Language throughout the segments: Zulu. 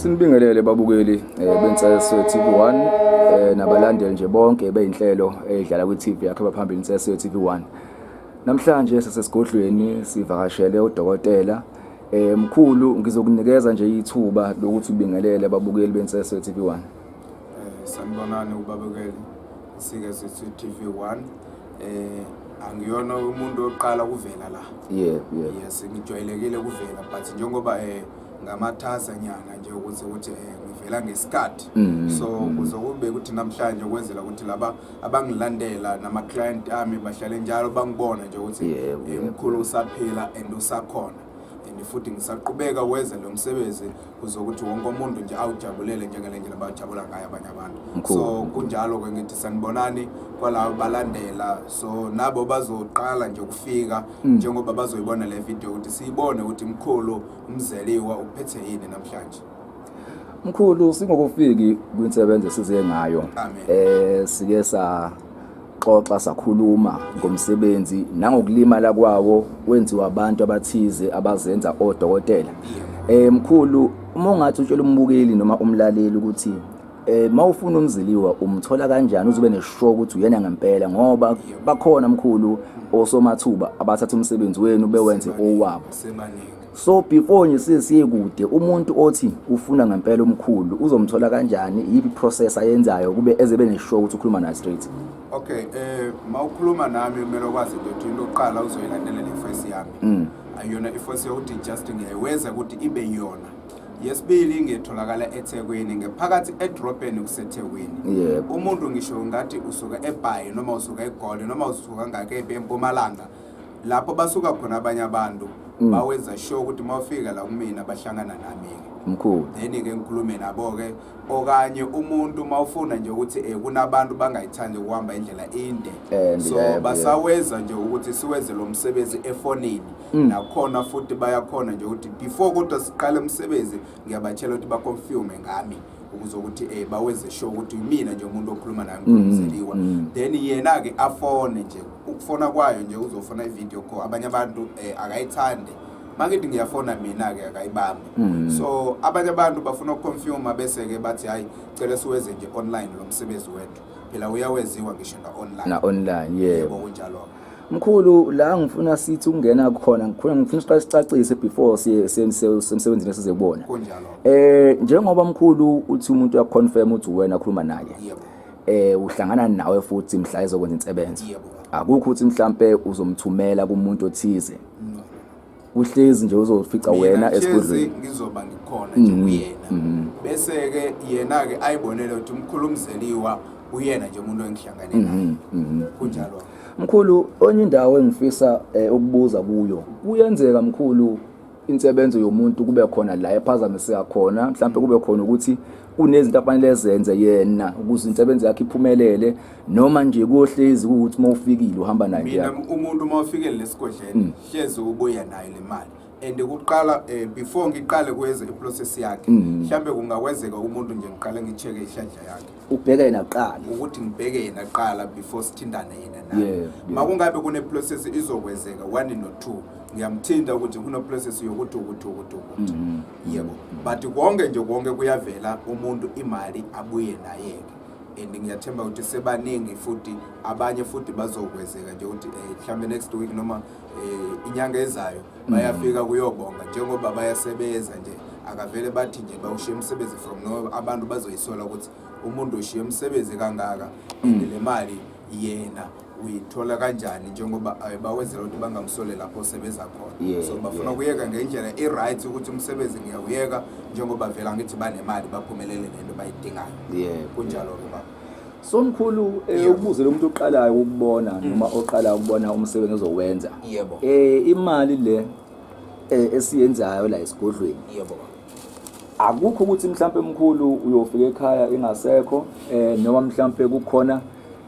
Sinibingelele babukeli eh, bensese TV1 eh, nabalandeli nje bonke beyinhlelo edlala kwi-TV yakhe baphambili insese TV1. Namhlanje sasesigodlweni sivakashele udokotela eh mkhulu ngizokunikeza nje ithuba lokuthi ubingelele ababukeli bensese TV1. Eh sanibonani ubabukeli sike sithi TV1 eh angiyona umuntu oqala kuvela la. Yebo yebo. Yes ngijwayelekile kuvela but njengoba eh ngamatasa nyana nje ukuthi ukuthi eh, ngivela ngesikhathi mm-hmm. so mm-hmm. kuzokube ukuthi namhlanje ukwenzela ukuthi laba abangilandela nama client ami bahlale njalo bangibona nje ukuthi eh, umkhulu usaphila and usakhona and futhi ngisaqhubeka weze lo msebenzi kuzokuthi wonke umuntu nje awujabulele njengale ndlela bajabula ngayo abanye abantu so kunjalo ke ngithi sanibonani kwalawo balandela so nabo bazoqala nje ukufika mm. njengoba bazoyibona le video ukuthi siyibone ukuthi mkhulu Umzeliwa uphethe yini namhlanje? Mkhulu singokufiki kwinsebenzo esize ngayo eh sike saxoxa sakhuluma ngomsebenzi nangokulimala kwawo wenziwa abantu abathize abazenza odokotela. Eh mkhulu uma ungathi utshela umbukeli noma umlaleli ukuthi Eh mawufuna umziliwa umthola kanjani uzobe neshow ukuthi uyena ngempela ngoba bakhona mkhulu osomathuba abathatha umsebenzi wenu bewenze owabo. Sebaningi. So before nje sisiye kude umuntu othi ufuna ngempela umkhulu uzomthola kanjani yipi process ayenzayo kube ezebe neshow ukuthi ukhuluma naye straight. Okay, eh mawukhuluma nami kumele ukwazi into ukuthi into oqala uzoyilandela le face yami. Ayona i face yokuthi just ngiyaywenza ukuthi ibe yona. yesibili ngitholakala eThekwini ngephakathi edrobheni kuseThekwini Yebo. umuntu ngisho ngathi usuka eBhayi noma usuka eGoli noma usuka ngakephi eMpumalanga lapho basuka khona abanye abantu Mm. bawenza sure ukuthi uma ufika la kumina bahlangana nami-ke mkhulu then-ke ngikhulume nabo-ke okanye umuntu uma ufuna nje ukuthi um kunabantu bangayithandi ukuhamba indlela inde And so yebo, basawenza nje ukuthi siwenze lo msebenzi efonini Mm. nakhona futhi bayakhona nje ukuthi before kodwa siqale umsebenzi ngiyabatshela ukuthi baconfirme ngami ukuze ukuthi eh bawenze sure ukuthi mina nje umuntu okhuluma naye mm, ngizeliwa mm. then yena ke afone nje ukufona kwayo nje uzofona ivideo call abanye abantu eh, akayithande makithi ngiyafona mina ke akayibambi so abanye abantu bafuna ukuconfirma bese ke bathi hayi cela siwenze nje online lo msebenzi wethu phela uyaweziwa ngisho na online na online yebo kunjalo Mkhulu la ngifuna sithi ukungena khona ngikhona ngifuna siqale sicacise before semsebenzini esize kubona. Kunjalo. Eh njengoba mkhulu uthi umuntu uya confirm uthi wena ukhuluma naye. Yebo. Eh uhlangana nawe futhi mhla ezokwenza insebenzo. Yebo. Akukho uthi mhlambe uzomthumela kumuntu othize. No. uhlezi nje uzofica wena esigodlweni ngizoba ngikhona nje mm-hmm. kuyena mm-hmm. bese ke yena ke ayibonele ukuthi umkhulu umzeliwa uyena nje umuntu engihlangane naye mm-hmm. kunjalo mkhulu onye indawo engifisa eh, ukubuza kuyo kuyenzeka mkhulu insebenzo yomuntu kube khona la ephazamiseka khona mhlawumbe kube khona ukuthi kunezinto afanele zenze yena ukuze insebenzo yakhe iphumelele noma nje kuyohlezi ukuthi uma ufikile uhamba naye mina umuntu uma ufikele lesigodleni mm. hlezi ubuya nayo le mali and kuqala eh, before ngiqale kwenze iprocess yakhe mm. mhlambe kungakwenzeka umuntu nje ngiqale ngicheke ihlandla yakhe ubheke yena kuqala ukuthi ngibheke yena kuqala before sithindane yena naye yeah, yeah. makungabe kuneprocess izokwenzeka one no two ngiyamthinta ukuthi kunoprocess yokuthi ukuthi ukuthi ukuthi mm-hmm. yebo but konke nje konke kuyavela umuntu imali abuye nayeke and ngiyathemba ukuthi sebaningi futhi abanye futhi bazokwezeka nje ukuthi eh, mhlawumbe next week noma eh, inyanga ezayo mm. bayafika kuyobonga njengoba bayasebenza nje akavele bathi nje bawushiye umsebenzi from no abantu bazoyisola ukuthi umuntu ushiye umsebenzi kangaka mm. le mali yena uyithola kanjani njengoba eh, bawenzela ukuthi bangamsole lapho osebenza khona Yeah, so bafuna yeah. ukuyeka ngendlela i-right ukuthi umsebenzi ngiyawuyeka njengoba vela ngithi banemali baphumelele ngento bayidingayo Yebo. kunjalo-ke baba so mkhulu eh, Yebo. ukubuze lo muntu oqalayo ukubona noma oqalayo ukubona umsebenzi ozowenza Yebo. eh imali le eh, esiyenzayo la esigodlweni yebo baba akukho ukuthi mhlampe mkhulu uyofika ekhaya ingasekho eh noma mhlampe kukhona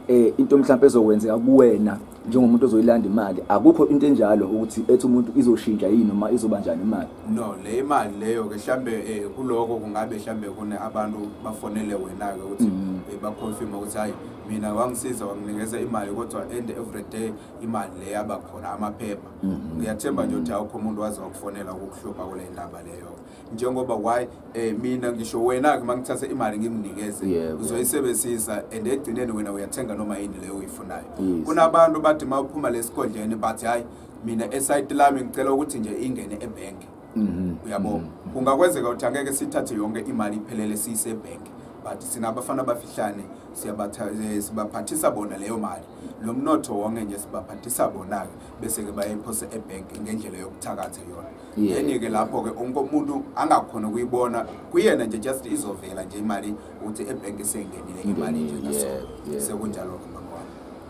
eh into mhlawumbe ezokwenzeka kuwena njengomuntu ozoyilanda imali akukho into enjalo ukuthi ethi umuntu izoshintsha yini noma izoba njani imali no le imali leyo ke mhlambe eh, kuloko kungabe mhlambe kune abantu bafonele wena ke ukuthi mm. eh, ba confirm ukuthi hayi mina wangisiza wanginikeza imali kodwa end every day imali le yaba khona amaphepha mm-hmm. ngiyathemba nje ukuthi awukho umuntu waze wakufonela ukukuhlupha kule ndaba leyo njengoba why eh mina ngisho wena ke mangithatha imali ngimnikeze uzoyisebenzisa and egcineni wena uyathenga noma yini leyo uyifunayo kunabantu bathi mawuphuma lesigodleni but hayi mina esayiti lami ngicela ukuthi nje ingene ebank mhm. uyabo mhm. kungakwenzeka ukuthi angeke sithathe yonke imali iphelele siyisebank but sinabafana abafihlane eh, sibaphathisa bona leyo mali lo mnotho wonke nje sibaphathisa bona-ke bese-ke bayayiphosa ebhenki ngendlela yokuthakatha yona enye ke lapho ke onke umuntu angakhona ukuyibona kuyena nje just izovela nje imali uthi ebhenki sengenile imali nje naso sekunjalo ke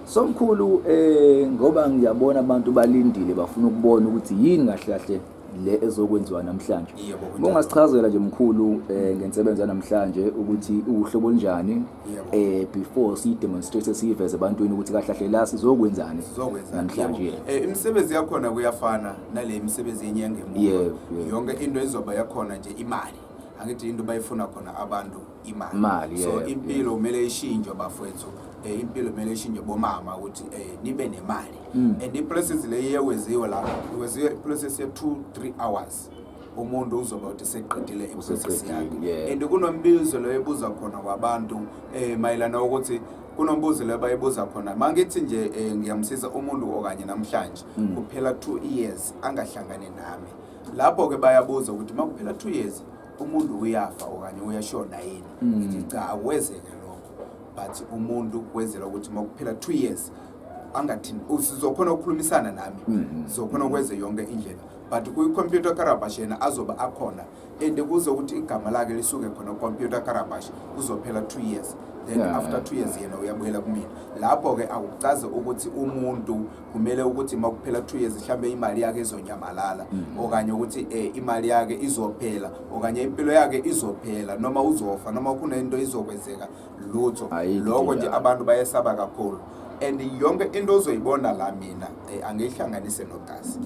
Somkhulu eh ngoba ngiyabona abantu balindile bafuna ukubona ukuthi yini kahle kahle le ezokwenziwa namhlanje. Yebo. Ungasichazela nje mkhulu eh ngensebenzo namhlanje ukuthi uhlobo njani eh before si demonstrate siyiveze ebantwini ukuthi kahle kahle la sizokwenzani namhlanje eh imisebenzi yakhona kuyafana nale imisebenzi yenyanga emuva yonke into izoba yakhona nje imali angithi into bayifuna khona abantu imali so impilo kumele ishintshwe bafowethu eh impilo kumele ishintshwe bomama ukuthi eh nibe nemali mm. and iprocess le yeweziwe la iweziwe iprocess ye 2 3 hours course umuntu uzoba uthi seqedile iprocess yakhe and kunombizo lo ebuza khona kwabantu eh mayelana ukuthi kunombuzo lo bayibuza khona mangithi nje eh, ngiyamsiza umuntu okanye namhlanje mm. kuphela 2 years angahlangane nami lapho ke bayabuza ukuthi makuphela 2 years umuntu uyafa okanye uyashona yini mm. ngithi cha akwezeke lokho but umuntu kwenzela ukuthi makuphela 2 years angathini usizokhona ukukhulumisana nami mm. zokhona ukwenze yonke indlela but kwi-computer karabash yena azobe akhona and kuzo ukuthi igama lakhe lisuke khona computer karabash kuzophela two years then yeah. after two years yena uyabuyela kumina lapho-ke akucazi ukuthi umuntu kumele ukuthi uma kuphela two years mhlawumbe imali yakhe izonyamalala mm -hmm. okanye ukuthi eh, imali yakhe izophela okanye impilo yakhe izophela noma uzofa noma kunento izokwenzeka lutho lokho nje abantu bayesaba kakhulu and yonke into ozoyibona la mina eh, angiyihlanganise nogazi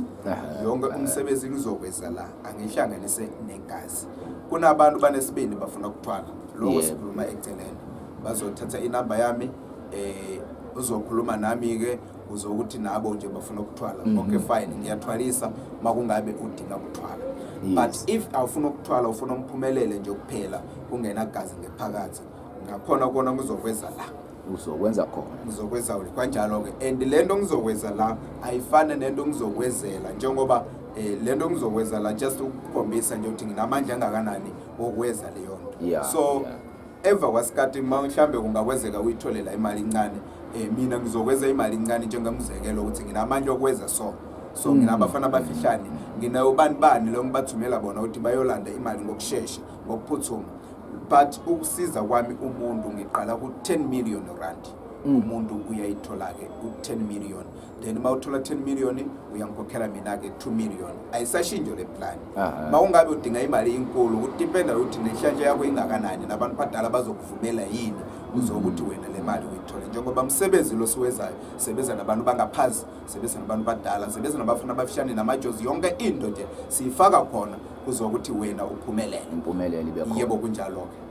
yonke umsebenzi ngizokwenza la angiyihlanganise negazi kunabantu banesibindi bafuna ukuthwala lokho sikhuluma eceleni bazothatha inamba yami eh uzokhuluma nami-ke kuze ukuthi nabo nje bafuna ukuthwala mm -hmm. okay fine ngiyathwalisa makungabe udinga ukuthwala yes. but if awufuna ukuthwala ufuna umphumelele nje kuphela kungena gazi ngephakathi ngakhona kona ngizokwenza la uzokwenza khona ngizokwenza kanjalo ke and lento ngizokwenza la ayifane nento ngizokwenzela njengoba eh lento ngizokwenza la just ukukhombisa nje ukuthi nginamandla angakanani okweza leyo nto yeah, so yeah. Eva kwasikati uma mhlambe kungakwezeka uyitholela imali incane eh mina ngizokweza imali incane njengamzekelo ukuthi nginamandla okweza so so mm. nginabafana abafihlane nginayo bani bani lo ngibathumela bona ukuthi bayolanda imali ngokushesha ngokuphuthuma but ukusiza kwami umuntu ngiqala ku 10 million rand mm. umuntu uyayithola ke ku 10 million then uma uthola 10 million uyangikhokhela mina-ke 2 million ayisashintsho le plan uma ungabe udinga imali inkulu kudipenda ukuthi nenhlanhla yakho ingakanani nabantu badala bazokuvumela yini uze ukuthi wena le mali uyithole njengoba msebenzi lo siwezayo sebenza nabantu bangaphansi sebenza nabantu badala sebenza nabafana abafishane namajozi yonke into nje siyifaka khona kuzokuthi wena uphumelele impumelelo ibe khona yebo kunjalo-ke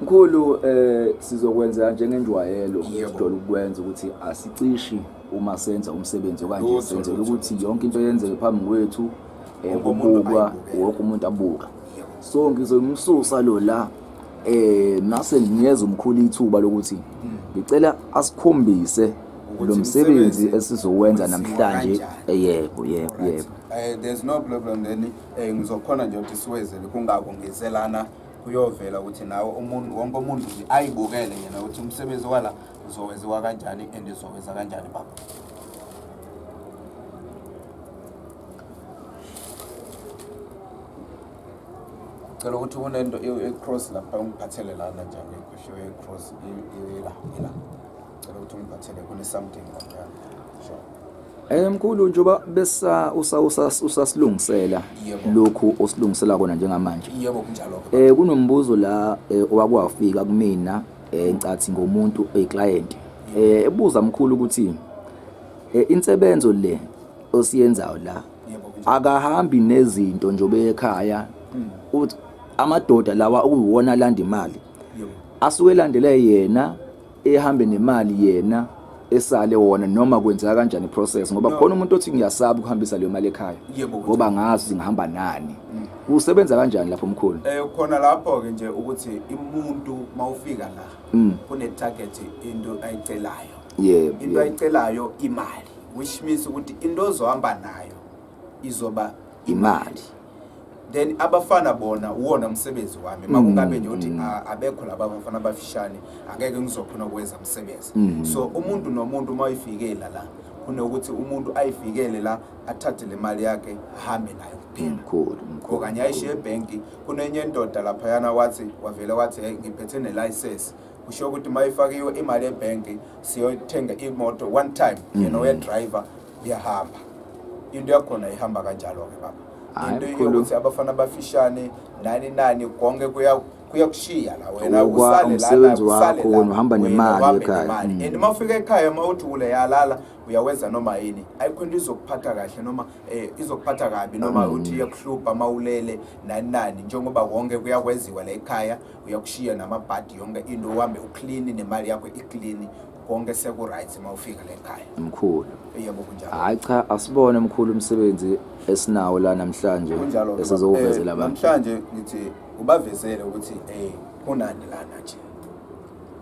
Mkhulu eh sizokwenza njengenjwayelo sidole ukwenza ukuthi asicishe uma senza umsebenzi okanje senzela ukuthi yonke into yenzeke phambi kwethu ekubukwa eh, wonke umuntu abuka so ngizomsusa lo la eh nase ngiyeza umkhulu ithuba lokuthi hmm. ngicela asikhombise lo msebenzi esizowenza namhlanje eh, yebo yebo yebo eh, there's no problem then ngizokhona nje ukuthi siwezele kungako ngizelana kuyovela ukuthi nawe umuntu wonke umuntu ayibukele yena ukuthi umsebenzi wala uzowenziwa kanjani and uzowenza kanjani baba cela ukuthi kunento ecross lapha ungiphathele lana njani ekhoshiwe ecross ila ila Cela ukuthi ungiphathele kune something la. Sure. Eh mkhulu njoba besa usa usa usasilungisela Yebo. lokhu osilungisela kona njengamanje. Yebo kunjalo. Eh kunombuzo la eh, owakwafika kumina eh ncathi ngomuntu oyiclient. Eh ebuza mkhulu ukuthi eh insebenzo le osiyenzayo la Yebo kunjalo. akahambi nezinto njobe ekhaya uthi amadoda lawa okuyiwona alanda imali Yebo. asuke elandele yena ehambe nemali yena esale wona noma kwenzeka kanjani process ngoba no. khona umuntu othi ngiyasaba ukuhambisa leyo mali ekhaya ngoba ngazi ngihamba nani mm. kusebenza kanjani lapho mkhulu eh khona lapho ke nje ukuthi umuntu mawufika la mm. kune target into ayicelayo yebo into ayicelayo imali which means ukuthi into ozohamba nayo izoba imali then abafana bona uwona msebenzi wami makungabe nje uthi "Ah, abekho laba bafana abafishane angeke ngizokhona ukwenza msebenzi so umuntu nomuntu uma uyifikela la kunokuthi umuntu ayifikele la athathe le mali yakhe ahambe nayo kuphela mkhulu or mkhulu kanye ayishiye ebhenki kunenye indoda laphayana wathi wavele wathi hey ngiphethe nelicense kusho ukuthi uma ifakiwe imali ebhenki siyothenga imoto one time yena uyedriver iyahamba into yakhona ihamba kanjalo ke baba into yokuthi abafana bafishane nani nani konke kuya kuyakushiya la wena usale la usale la uhamba nemali ekhaya and mm. uma ufika ekhaya uma uthi ule yalala uyawenza noma yini ayikho into izokuphatha kahle noma eh izokuphatha kabi noma mm. uthi iyakuhlupha mawulele nani nani njengoba konke kuyakwenziwa la ekhaya uyakushiya namabhadi yonke into uhambe uklini nemali yakho iklini konke seku-right uma ufika le khaya mkhulu yebo kunjalo hhayi cha asibone mkhulu umsebenzi esinawo la namhlanje Kunjalo-ke, esizowuvezela eh, abantu namhlanje ngithi ubavezele ukuthi um kunani lana nje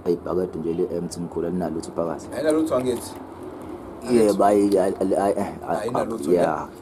ayi ibhakede nje le-emt mkhulu alinalutho ibhakazi ayinalutho angithi yebo ayi- ayi- ayi- ayi- ayi- Ayinalutho, ya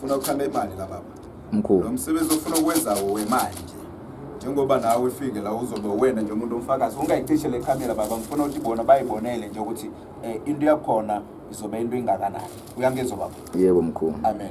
Funa ukukhamba imali la baba. Mkhulu. Lo msebenzi ofuna ukwenza wemali nje. Njengoba nawe ufike la uzobe wena nje umuntu omfakazi ungayicishe le camera baba ngifuna ukuthi bona bayibonele nje ukuthi eh, into yakhona izobe into ingakanani. Uyangizwa baba? Yebo mkhulu. Amen.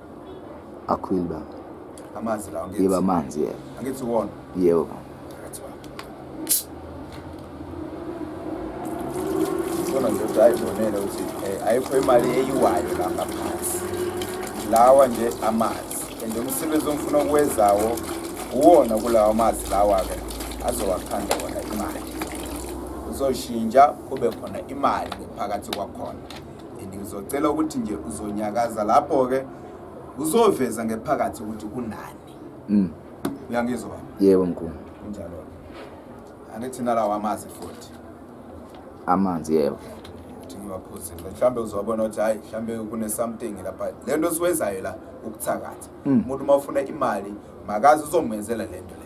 Akhwili baba. Amanzi lawo ngithi. Yebo amanzi yebo. Angithi uwona. Yebo baba. Sona nje ukuthi ayibonele ukuthi eh, ayikho imali eyiwayo la ngaphansi. Lawa nje amanzi. And umsebenzi ongifuna ukuwezawo uwona kulawa mazi lawa-ke azowakhanda wona imali. Uzoshintsha kube khona imali phakathi kwakhona. ngizocela ukuthi nje uzonyakaza lapho-ke uzoveza ngephakathi ukuthi kunani mm. uyangizwa baba yebo mkhulu kunjalo angithi nalawo amazi futhi amanzi yebo ukuthi ngiwaphuzile mhlawumbe uzobona ukuthi hhayi mhlawumbe kune-something lapha le nto esiwenzayo la ukuthakatha mm. umuntu uma ufuna imali makazi uzomenzela le nto le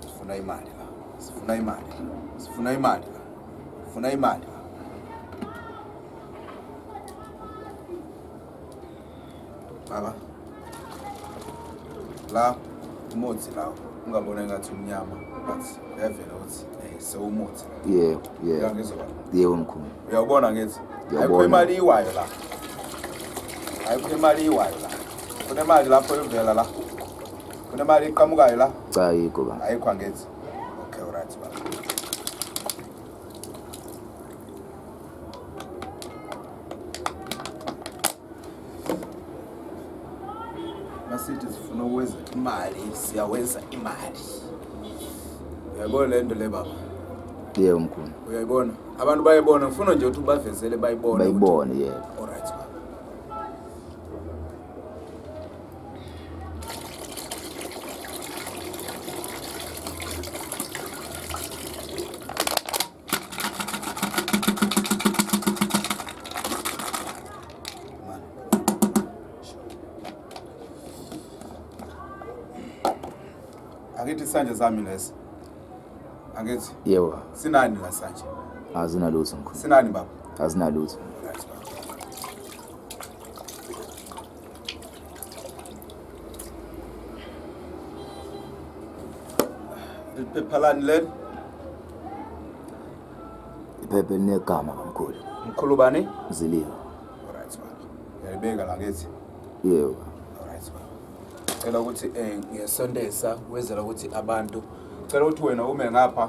Sifuna imali la. Sifuna imali. Sifuna imali la. Sifuna imali. Baba. La umuthi la ungabona ngathi umnyama but yavela ukuthi eh sewumuthi. Yebo, yebo. Yebo mkhulu. Uyabona ngithi ayikho imali iwayo la. Ayikho imali iwayo la. kunemali lapho evela la kunemali iqhamukayo la cha ayikho ba ayikho angenzi okay alright ba masithi sifuna ukwenza imali siyawenza imali uyayibona le nto le baba yebo mkhulu uyayibona abantu bayibona ngifuna nje ukuthi ubavezele bayibone ukuthi- bayibone yebo angithi isandla sami lesi angithi yebo sinani la sandla azinalutho mkhulu sinani baba azinalutho Liphephalani leli? Iphepha elinegama kamkhulu. Mkhulu bani? Ziliwa. Alright baba. Yayibeka la ngithi. Yebo. Alright baba. Cela ukuthi eh ngesondeza wezela ukuthi abantu cela ukuthi wena ume ngapha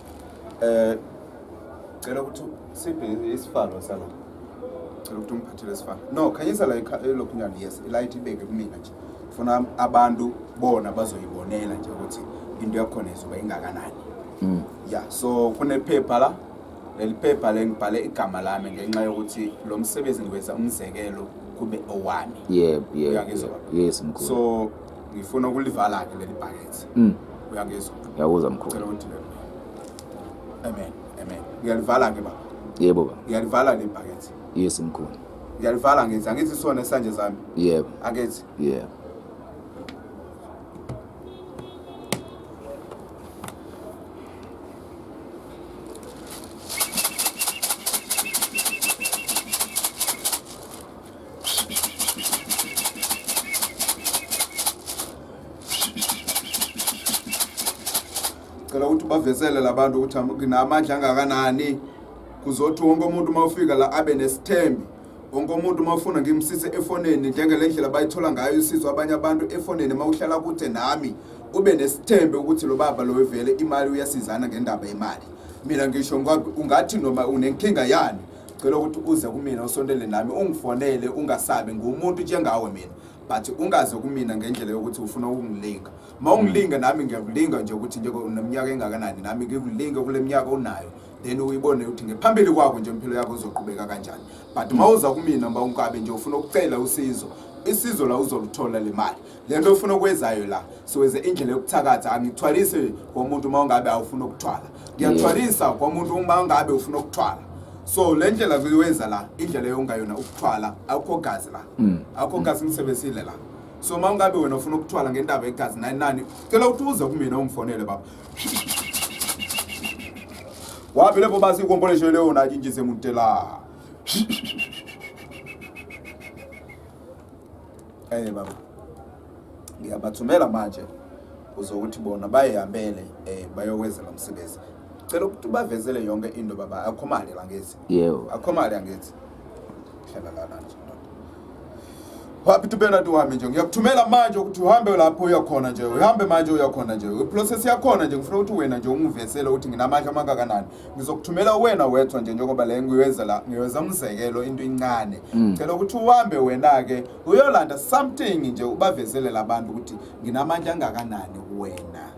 Eh cela ukuthi siphe isifalo sala. Cela ukuthi umphathele isifalo. No, khanyisa la elokunyana eh, yes, light ibeke kumina nje. Funa abantu bona bazoyibonela nje ukuthi into yakhona izoba ingakanani. Mm. Yeah, so kunephepha la leli phepha lengibhale igama lami ngenxa yokuthi lo msebenzi ngiwenza umzekelo kube owami yebo yebo yes mkhulu so ngifuna ukulivala ke leli bhakethe mm. uyangizwa ngiyakuzwa mkhulu cela undile amen amen ngiyalivala ke baba yebo baba ngiyalivala leli bhakethe yes mkhulu ngiyalivala ngithi angithi sona esanje zami yebo akethi yebo cela ukuthi ubavezele labantu ukuthi nginamandla angakanani kuzothi wonke umuntu uma ufika la abe nesithembi wonke umuntu uma ufuna ngimsise efonini njengele ndlela bayithola ngayo usizo abanye abantu efonini uma uhlala kude nami ube nesithembe ukuthi lo baba lo vele imali uyasizana ngendaba yemali mina ngisho ungathi noma unenkinga yani cela ukuthi uze kumina usondele nami ungifonele ungasabi ngumuntu njengawe mina but ungaze kumina ngendlela yokuthi ufuna ukungilinga ma ungilinga nami ngiyakulinga nje ukuthi nje uneminyaka engakanani nami ngikulinga kule minyaka unayo then uyibone ukuthi ngephambili kwakho nje impilo yakho uzoqhubeka kanjani but ma uza kumina ma unkabe nje ufuna ukucela usizo isizo la uzoluthola le mali le nto ofuna ukwenzayo la siwenze indlela yokuthakatha angithwalise komuntu uma ungabe awufuna ukuthwala ngiyathwalisa kwamuntu uma ngabe ufuna ukuthwala so le ndlela kuyiwenza la indlela yongayona ukuthwala akukho gazi la mm. akukho gazi ngisebenzile la so uma ungabe wena ufuna ukuthwala ngendaba yegazi nani nani cela ukuthi uze kumina ungifonele baba wapi lepo basi ikomboleshe leo najinjise mutela eh baba ngiyabathumela manje uze ukuthi bona bayihambele eh bayokwenza lo msebenzi cela ukuthi ubavezele yonke into baba akhomale la ngithi yebo akhomale angithi hlala lana nje wapi tubena tuhambe nje ngiyakuthumela manje ukuthi uhambe lapho uyakhona nje uhambe manje uyakhona nje iprocess yakhona nje ngifuna ukuthi wena nje ungivesele ukuthi nginamandla amangakanani ngizokuthumela wena wethwa nje njengoba le ngiwenza la ngiwenza umzekelo into incane mm. cela ukuthi uhambe wena-ke uyolanda something nje ubavezele labantu ukuthi nginamandla angakanani kuwena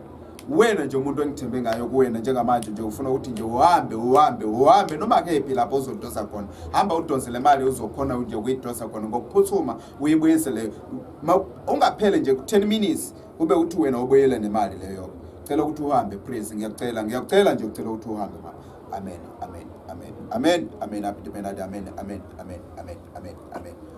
wena nje umuntu engithembe ngayo kuwena njengamanje nje ufuna ukuthi nje uhambe uhambe uhambe noma kephi lapho uzodosa khona hamba udonse le mali uzokhona nje ukuyidosa khona ngokuphuthuma uyibuyisele ungaphele nje ku-10 minutes ube uthi wena ubuyele nemali leyo cela ukuthi uhambe please ngiyacela ngiyacela nje ucela ukuthi uhambe mama amen amen amen amen amen amen amen amen amen amen amen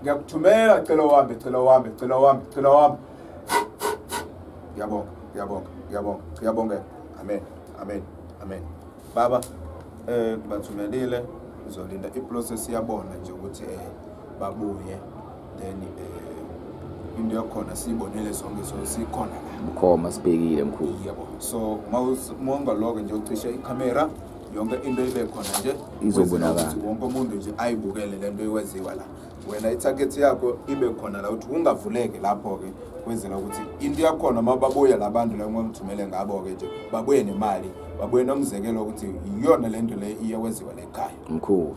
ngiyakuthumela cela uhambe cela uhambe cela uhambe cela uhambe ngiyabonga ngiyabonga ngiyabonga ngiyabongeka amen amen amen baba eh bathumelile uzolinda iprocess yabona nje ukuthi eh babuye then eh into yakhona siyibonele sonke so sikhona la mkhoma sibhekile mkhulu yebo so mawungaloke nje ucishe ikhamera yonke into ibe khona nje izobonakala wonke umuntu nje ayibukele le nto iwenziwa la wena ithakethi yakho ibe khona la ukuthi ungavuleke lapho-ke kwenzela ukuthi into yakhona uma babuya la bantu la ngomthumele ngabo-ke nje babuye nemali babuye nomzekelo ukuthi iyona le nto le iye kwenziwa le khaya mkhulu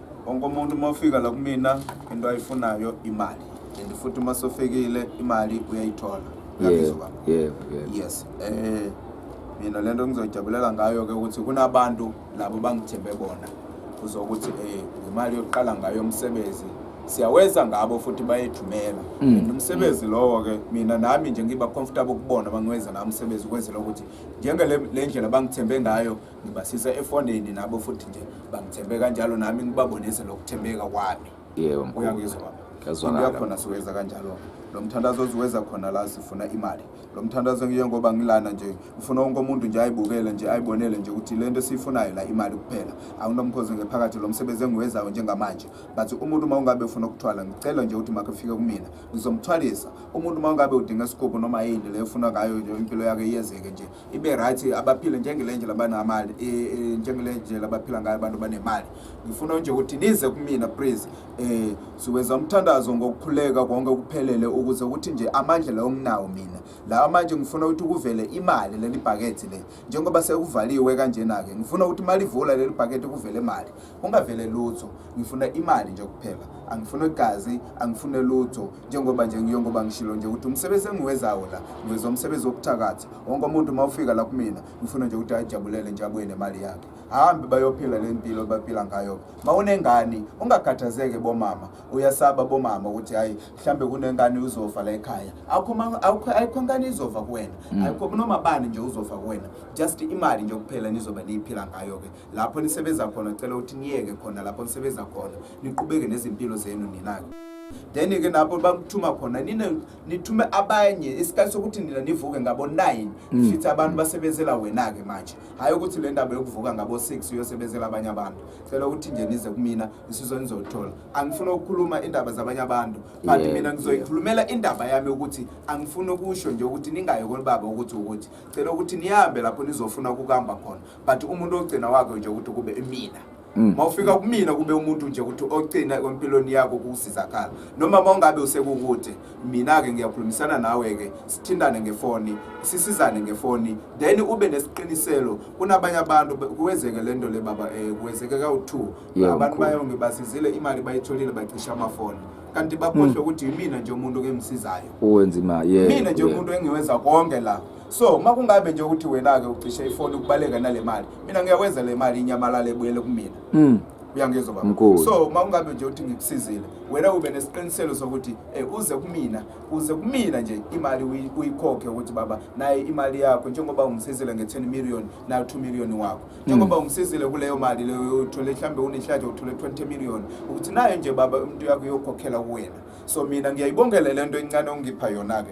wonke umuntu uma ufika la kumina into ayifunayo imali and futhi uma sofikile imali uyayithola uyabizwa baba yebo yebo yes eh mina lento ngizojabulela ngayo ke ukuthi kunabantu labo bangithembe bona uzokuthi eh imali yokuqala ngayo umsebenzi siyawenza ngabo futhi bayethumela Mm. and umsebenzi lowo ke mina nami nje ngiba comfortable kubona bangiwenza nami umsebenzi ukwenzela ukuthi njenge le le ndlela bangithembe ngayo ngibasisa efonini nabo futhi nje bangithembe kanjalo nami ngibabonise lokuthembeka kwami yebo mkhulu uyangizwa baba Kuyazwakala. Into yakhona siweza kanjalo lo mthandazo oziweza khona la sifuna imali lo mthandazo ngiye ngoba ngilana nje ngifuna wonke umuntu nje ayibukele nje ayibonele nje ukuthi le nto esiyifunayo la imali kuphela anginomkhozi ngephakathi lo msebenzi engiwezayo njengamanje but umuntu uma ungabe ufuna ukuthwala ngicela nje ukuthi makafike kumina ngizomthwalisa umuntu uma ungabe udinga isigubhu noma yini le ufuna ngayo nje impilo yakhe iyenzeke nje ibe right abaphile njengele ndlela abanamali e, e, njengele ndlela abaphila ngayo abantu banemali ngifuna nje ukuthi nize kumina please eh siwenza umthandazo ngokukhuleka konke kuphelele ukuze ukuthi nje amandla lawo nginawo mina la manje ngifuna ukuthi kuvele imali leli bhakethe le njengoba sekuvaliwe kanjena ke ngifuna ukuthi malivula leli bhakethe kuvele imali Ungavele lutho, ngifuna imali nje kuphela. Angifune gazi, angifune lutho. Njengoba nje ngiyengoba ngishilo nje ukuthi umsebenzi engiwezawo la, ngiweza umsebenzi wokuthakatha. Wonke umuntu uma ufika la kumina, ngifuna nje ukuthi ajabulele nje abuye nemali yakhe. Hambe bayophila le mpilo baphila ngayo. Uma unengane, ungakhathazeke bomama. Uyasaba bomama ukuthi hayi mhlambe kunengane uzofa la ekhaya. Akho ma- akho ayikho ngane izofa kuwena. Ayikho noma bani nje uzofa kuwena. Just imali nje kuphela nizobe niyiphila ngayo ke. lapho nisebenza khona cela ukuthi niyeke khona lapho nisebenza khona niqhubeke nezimpilo zenu nina-ke then-ke lapho bakuthuma khona nina nithume abanye isikhathi sokuthi nina nivuke ngabo-nine mm. fithi abantu basebenzela wena-ke manje hhayi ukuthi le ndaba yokuvuka ngabo-six uyosebenzela abanye abantu cela ukuthi nje nize kumina isizo nizolithola angifuni ukukhuluma indaba zabanye abantu but yeah, mina ngizoyikhulumela yeah. indaba yami ukuthi angifuni ukusho nje ukuthi ningayi kolibaba ukuthi ukuthi cela ukuthi nihambe lapho nizofuna ukukuhamba khona but umuntu ogcina wakho nje ukuthi kube imina Mm. mawufika kumina kube umuntu nje ukuthi ogcina kwempilweni yakho kusizakala noma mawungabe usekukude mina-ke ngiyakhulumisana nawe-ke sithintane ngefoni sisizane ngefoni then ube nesiqiniselo kunabanye abantu kuwezeke le nto le baba um eh, kuwezeke kawu-two abantu bayonge basizile imali bayitholile bacisha amafoni kanti bakhohlwe mm. ukuthi yimina nje umuntu ke msizayo mina nje umuntu engiwenza konke la so uma kungabe nje ukuthi wena-ke ucishe ifoni ukubaleka nale mali mina ngiyakwenza le mali inyamalala ebuyele kumina mm. uyangizwa baba so uma ungabe nje uthi ngikusizile wena ube nesiqiniselo sokuthi eh, uze kumina uze kumina nje imali uyikhokhe ukuthi baba naye imali yakho njengoba ungisizile nge-10 million nayo 2 million wakho hmm. njengoba ungisizile kuleyo mali leyo uthole mhlawumbe unehlaje uthole 20 million ukuthi nayo nje baba umuntu yakho uyokhokhela kuwena so mina ngiyayibongele le nto encane ongipha yona-ke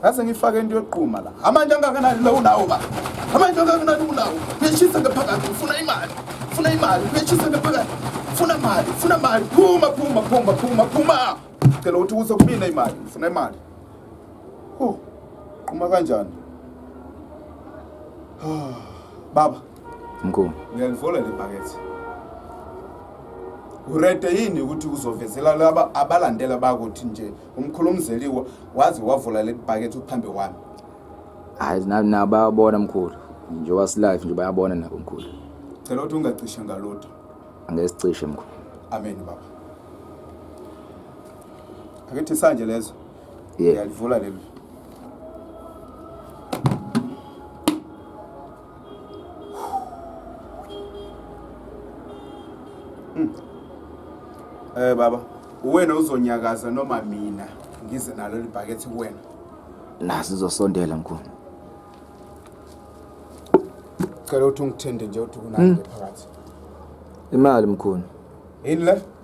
Ngaze ngifake into yokuqhuma la. Amanje angakanani la unawo ba. Amanje angakanani unawo. Ngishisa ngaphakathi ufuna imali. Ufuna imali. Ngishisa ngaphakathi. Ufuna imali. Ufuna imali. Phuma phuma phuma phuma phuma. Cela ukuthi uze kubina imali. Ufuna imali. Huh. Qhuma kanjani? Baba. Mkhulu. Uyalivola le bhakethe. Urete yini ukuthi uzovezela laba abalandela bakuthi nje umkhulumzeliwa waze wavula leli bhakethe phambi kwami hayi nabo bayabona mkhulu nje wasilife nje bayabona nabo mkhulu cela ukuthi ungacishe ngalutho angesicishe mkhulu amen baba akethi sanje lezo yalivula leli Mm. Eh baba, uwena uzonyakaza noma mina ngize nalo libhakethi kuwena. Nasi uzosondela mkhulu. Cela uthi ungithende nje uthi kunani hmm. phakathi. Imali mkhulu. Yini le?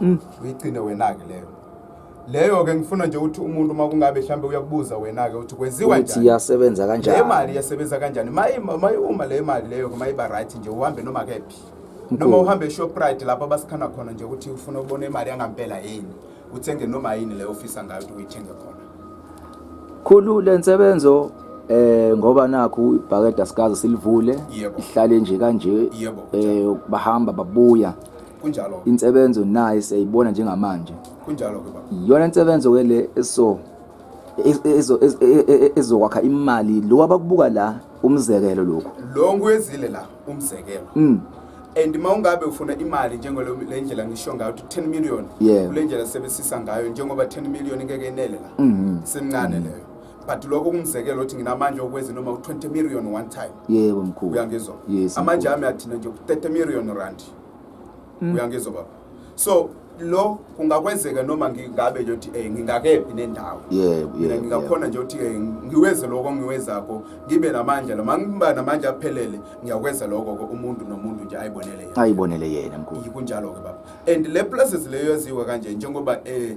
Mm. uyigcine wena-ke leyo leyo-ke ngifuna nje ukuthi umuntu uma kungabe mhlawumbe uyakubuza wena-ke ukuthi kwenziwa ukuthi njani iyasebenza le kanjani mali iyasebenza kanjani Mayi- mayi- uma le mali leyo-ke mayiba right nje uhambe noma kephi noma Mkhulu. uhambe eshoprite lapho abasikhana khona nje ukuthi ufuna ukubona imali yangampela yini uthenge noma yini leyo ofisa ngayo ukuthi uyithenge khona khulu le nsebenzo eh ngoba nakhu ibhakede asikaze silivule Yebo. ihlale nje kanje Yebo, eh bahamba babuya kunjalo insebenzo naye siyayibona njengamanje kunjalo ke baba iyona insebenzo ke le eso ezokwakha imali lo abakubuka la umzekelo lokho lo nguyezile la umzekelo mm and uma ungabe ufuna imali njengole ndlela ngisho ngayo ukuthi 10 million yeah. kule ndlela sebesisa ngayo njengoba 10 million ngeke inele la mm -hmm. semncane mm -hmm. leyo but lokho kumzekelo ukuthi nginamanje okwezi noma u20 million one time yebo mkhulu uyangizwa yes, amanje ami athina nje ku30 million rand uyangizwa baba so lo kungakwenzeka noma ngingabe nje ukuthi eh ngingakephi nendawo yebo mina yebo ngingakhona nje ukuthi eh, ngiweze lokho ngiwezakho ngibe namandla noma ngiba namandla aphelele ngiyakwenza lokho ke umuntu nomuntu nje ayibonele yena ayibonele yena mkhulu kunjalo ke baba and le places leyo yaziwa kanje njengoba eh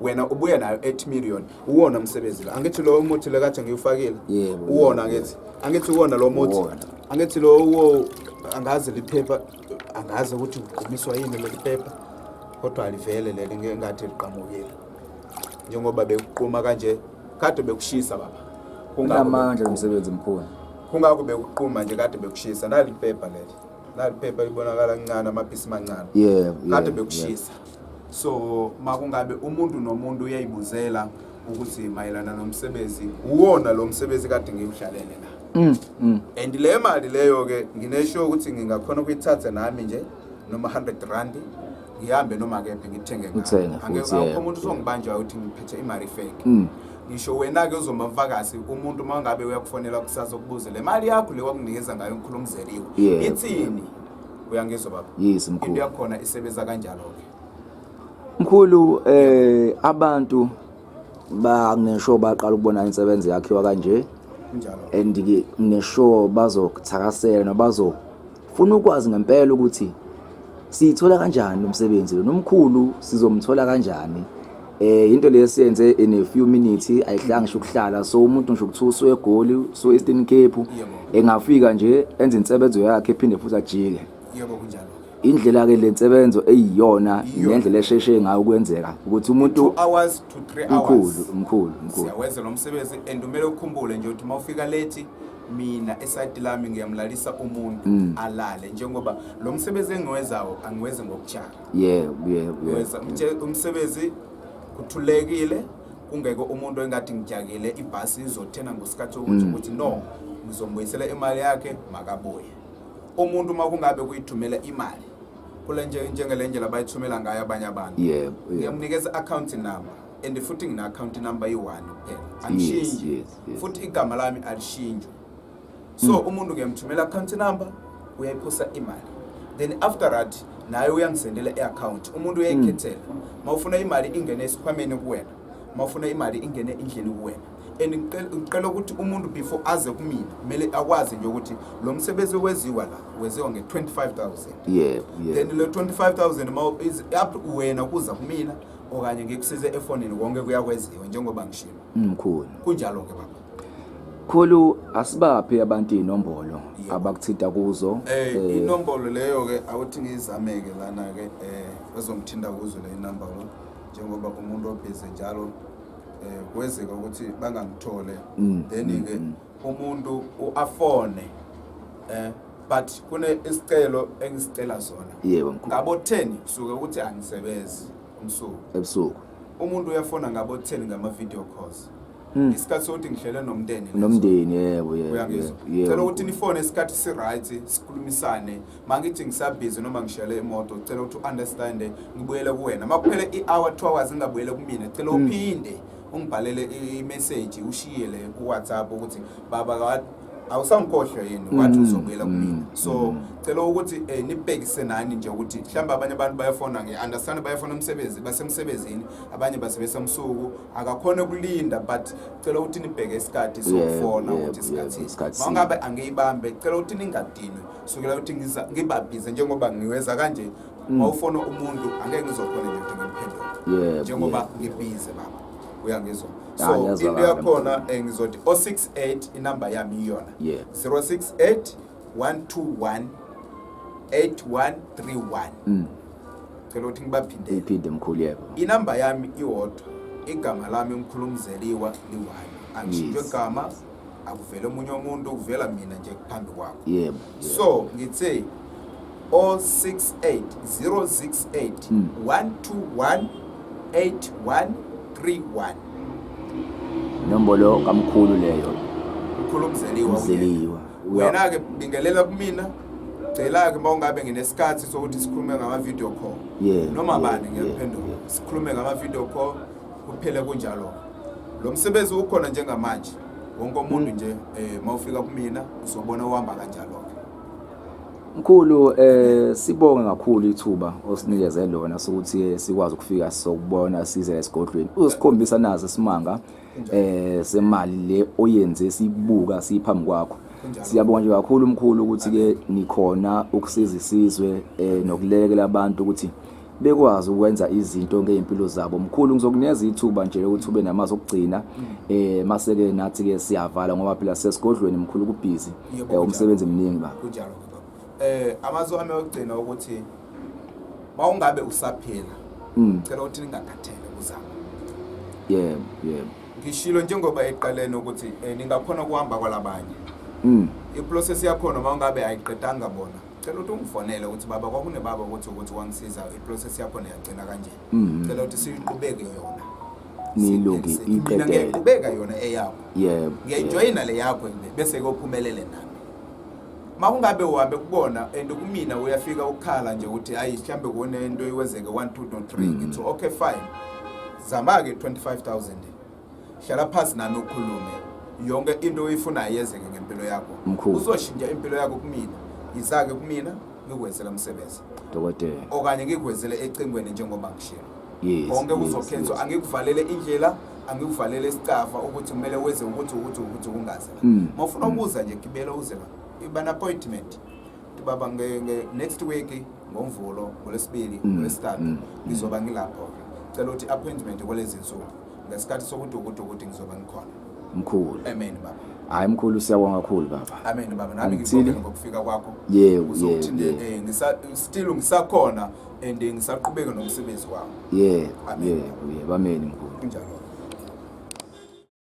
wena ubuye nayo 8 million uwona umsebenzi la angithi lo umuthi le kade ngiwufakile Yebo, uwona yebo. angithi angithi uwona lo muthi Uwona. angithi lo uwo angazi liphepha angazi ukuthi uqumiswa yini leli phepha kodwa alivele leli ngeke ngathi liqamukile njengoba bekuquma kanje kade bekushisa baba Kungakho unamandla lomsebenzi mkhulu kungakho bekuquma nje kade bekushisa nali phepha leli laliphepha libonakala lincane amapisi mancane yeah, kade yeah, bekushisa yeah. so makungabe umuntu nomuntu uyayibuzela ukuthi mayelana nomsebenzi uwona lo msebenzi kade ngiwudlalele la mm, mm. and le mali leyo-ke nginesho ukuthi ngingakhona ukuyithatha nami nje noma 100 randi ngihambe noma kephi ngithenge Uthenge futhi, angekho yeah. umuntu uzongibanjwa ukuthi ngiphethe imali fake Mm. ngisho wena-ke uzomavakasi umuntu uma ngabe uyakufonela kusasa ukubuze le mali yakho le wakunikeza ngayo umkhulu umzeliwe Yeah. ithini uyangizwa baba Yes, mkhulu. into yakhona isebenza kanjalo-ke Mkhulu eh abantu bangesho baqala ukubona insebenzi yakhiwa kanje kunjalo and ke ngisho bazokuthakasela nobazo Funa ukwazi ngempela ukuthi siyithola kanjani umsebenzi lo nomkhulu sizomthola kanjani eh into lesiyenze in a few minutes ayihlanga ngisho ukuhlala so umuntu ngisho ukuthi usuye egoli usuye Eastern Cape engafika nje enze insebenzo yakhe ephinde futhi ajike yebo kunjalo indlela ke lensebenzo eyiyona nendlela esheshe ngayo kwenzeka ukuthi umuntu hours to 3 hours mkhulu mkhulu mkhulu siyawenza lo msebenzi and umele ukhumbule nje ukuthi mawufika late mina esayidi lami ngiyamlalisa umuntu mm. alale njengoba lo msebenzi engiwezawo angiwezi ngokujala yebo yebo umsebenzi kuthulekile kungeke umuntu engathi ngijakele ibhasi izothena ngosikhathi ukuthi mm. ukuthi no ngizombuyisela imali yakhe makabuye umuntu uma kungabe kuyithumela imali kule njengele ndlela bayithumela ngayo abanye abantu ngiyamnikeza i-akhawunti number and futhi ngina-akhawunti number yi-one kuphela angishintshi futhi igama lami alishintshwe so hmm. umuntu ngiyamthumela account number uyayiphosa imali then after that naye uyangisendela i-account umuntu uyayikhethela hmm. uma ufuna imali ingene esikhwameni kuwena uma ufuna imali ingene indlini kuwena and ngicela ukuthi umuntu before aze kumina kumele akwazi nje ukuthi lo msebenzi oweziwa la weziwa nge-25000 yebo then le 25000 up wena kuza kumina okanye ngikusize efonini konke kuyakweziwa njengoba ngishilo Mkhulu. Kunjalo ke baba. Khulu asibaphe abantu inombolo abakuthita kuzo. Eh, eh inombolo leyo ke awuthi ngizameke lana ke eh bazongithinta kuzo le number lo njengoba umuntu obhize njalo eh kwezeka ukuthi bangangithole. Mm, Then mm, ke mm. umuntu uafone eh but kune isicelo engisicela sona. Yebo. Ngabo 10 kusuke ukuthi angisebenzi. umsuku ebusuku umuntu uyafona ngabo 10 ngama video calls Hmm. isikhathi sokuthi ngihlele nomndeni leso. nomndeni yebo yebo uyangizwa yebo. ngicela ukuthi nifone isikhathi si-right sikhulumisane ma ngithi ngisabhizi noma ngishele imoto ngicela ukuthi u-understande ngibuyele kuwena ma kuphele i-hour two hours ngingabuyele kumina ngicela Hmm. uphinde ungibhalele i- imeseji ushiyele kuwhatsapp ukuthi baba ka- awusangikhohlwe yini wathi mm, uzobuyela mm, kumina so mm. cela ukuthi eh, nibhekise nani nje ukuthi mhlawumbe abanye abantu bayafona ngi-understand bayafona umsebenzi basemsebenzini abanye basebenzisa msuku akakhona ukulinda but cela ukuthi nibheke isikhathi sokufona ukuthi isikhathi mangabe angiyibambe cela ukuthi ningadinwe sukela ukuthi ngibabhize njengoba ngiweza kanje mawufona umuntu angeke ngizokhona nje ukuthi ngimphendule njengoba ngibhize baba uyangizwa Ya, so ngiyazwakala into yakhona eh, ngizothi o68 inamba yami iyona Yeah. 068 121 8131 Mm. cela ukuthi ngibaphindele iphinde mkhulu yebo inamba yami iwodwa igama lami umkhulumzeliwa liwani angishintshwe Yes. gama akuvele omunye umuntu ukuvela mina nje phambi kwakho yebo so ngithe 068 068 121 8131 nombolo kamkhulu leyo mkhulu mzeliwa mzeliwa wena ke bingelela kumina ngicela-ke uma ungabe nginesikhathi sokuthi sikhulume ngama-video call noma bani ngiyakuphendula sikhulume ngama-video call Kuphele kunjalo. Lo msebenzi ukhona njengamanje. Wonke umuntu nje eh mawufika kumina uzobona uhamba kanjalo ke. Mkhulu eh sibonge kakhulu ithuba osinikeze lona sokuthi sikwazi ukufika sokubona size esigodlweni. Uzosikhombisa nazo isimanga eh semali le oyenze sibuka siphambi kwakho. Siyabonga nje kakhulu mkhulu ukuthi ke nikhona ukusiza isizwe eh nokulekela abantu ukuthi bekwazi ukwenza izinto ngey'mpilo zabo mkhulu ngizokunikeza ithuba nje lokuthi ube namazi okugcina eh maseke nathi ke siyavala ngoba phela sesigodlweni mkhulu kubhizi Yebo, eh, umsebenzi mningi ba kunjalo baba eh amazi wami okugcina ukuthi mawungabe usaphila Mm. cela ukuthi ningakhathele kuzama yebo yebo ngishilo njengoba eqaleni ukuthi eh, ningakhona ukuhamba kwalabanye mm iprocess yakhona mawungabe ayiqedanga bona cela ukuthi ungifonele ukuthi baba kwakunebaba ukuthi ukuthi wangisiza iprocess yakho niyagcina kanje mm-hmm. cela ukuthi siyiqhubeke yona nilungi iqedele ngiyayiqhubeka yona eyakho yebo ngiyayijoyina le yakho bese kophumelele nami makungabe uhambe kubona and kumina uyafika ukukhala nje ukuthi ayi mhlambe kune into iwenzeke 1 2 3 ngithi okay fine zama ke 25000 hlala phansi nami ukhulume yonke into oyifunayo yenzeke ngempilo yakho Mkhulu. uzoshintsha impilo yakho kumina yizake kumina ngikwenzela umsebenzi dokotela okanye ngikwenzele ecingweni njengoba ngishilo yes konke yes, kuzokhethwa yes. angikuvalele indlela angikuvalele isicafa ukuthi kumele wenze ukuthi ukuthi ukuthi kungaze la Mm, uma ufuna ukuza nje gibela uze la iba na-appointment baba nge, nge next week ngomvulo ngolesibili mm, ngolesithathu mm, mm. ngizoba ngilapho cela ukuthi appointment kwalezi nsuku ngesikhathi sokuthi ukuthi ukuthi ngizoba ngikhona mkhulu amen baba hayi mkhulu siyabonga kakhulu baba amen baba nami ngibonge ngokufika kwakho yebo yebo eh, ngisa still ngisakhona and ngisaqhubeka nomsebenzi wami yebo yebo yebo amen mkhulu kunjalo